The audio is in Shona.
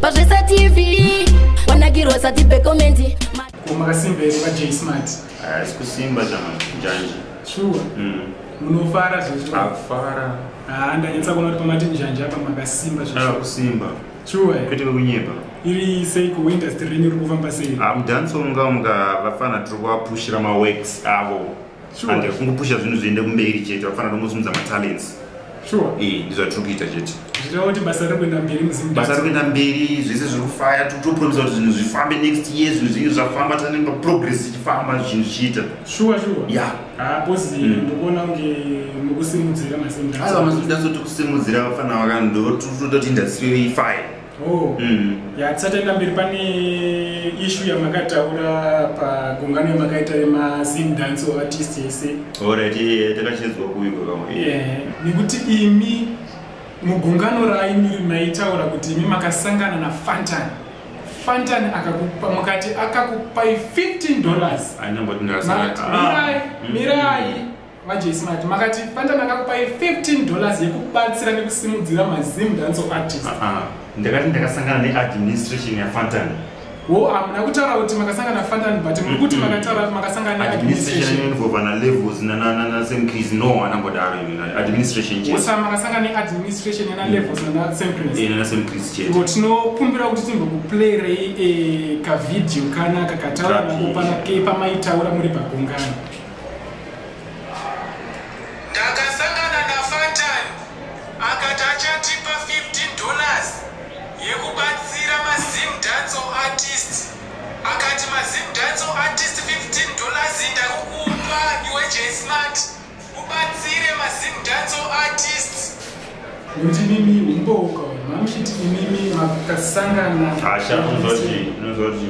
pazvesa tv wanakirwa sati pekomenti makasimba here pajay smart haisi kusimba chanjanje shuwa mm. munofara zvekufara haa ndanyatsa kuona kuti pamati njanje apa makasimba zvakusimba shuwa kwete vekunyepa iri sei kuindustry renyu ri kufamba sei amudance ah, unga muka vafana tiri kuvapushira maworks avo and kungopusha zvinhu zviende kumberi chete vafanira kungosimudza matalents sure ee eh, ndizvatiri kuita chete zvireva kuti basa riri kuenda mberi muzimbabwe basa riri kuenda mberi zvese zviri kufaya totopromisa kuti zvinhu zvifambe next year zvinhu zvinge zvafamba tanenge progress ichifamba zvinhu zvichiita shuwa shuwa ya haposi mm. ndokuona kunge mukusimudzira masimudaiwa masimudaiso tikusimudzira vafana vakandotototi indasiri ifaye Oh. Mm. Ya tisati enda mberi pane issue yamakataura pagungano yamakaita yema Zim dance or artist yese. Alright, yeah, takachinzwa kuuyu kwakama. Yeah. Nekuti imi mugungano raimi maitaura kuti imi makasangana na Fantan. Fantan akakupa mukati akakupai 15 dollars. Anambo tinasana. Mirai, mm. mirai. majesmat makati panda ndakakupai 15 dollars yekubatsira nekusimudzira mazim danso artist ah, ah. ndakati ndakasangana neadministration yafantan wo hamuna kutaura kuti makasangana fantan but muri kuti makataura makasangana neadministrationvana levels nanasemcris no hana mbodaro administration osa makasangana neadministration yana levels nanasemcris eh, chete tinokumbira kuti timbokuplayrei eh, kavideo kana kakataura nakopana kepamaitaura muri pagungano Ndakasangana naFatan akati achatipa 15 dollars yekubatsira maZim dancehall artists. Akati maZim dancehall artists 15 dollars iyi ndakukupa iwe Jsmart ubatsire maZim dancehall artists. Nekuti mimi umboko mamuchiti imimi makasangana. Asha unozoti unozoti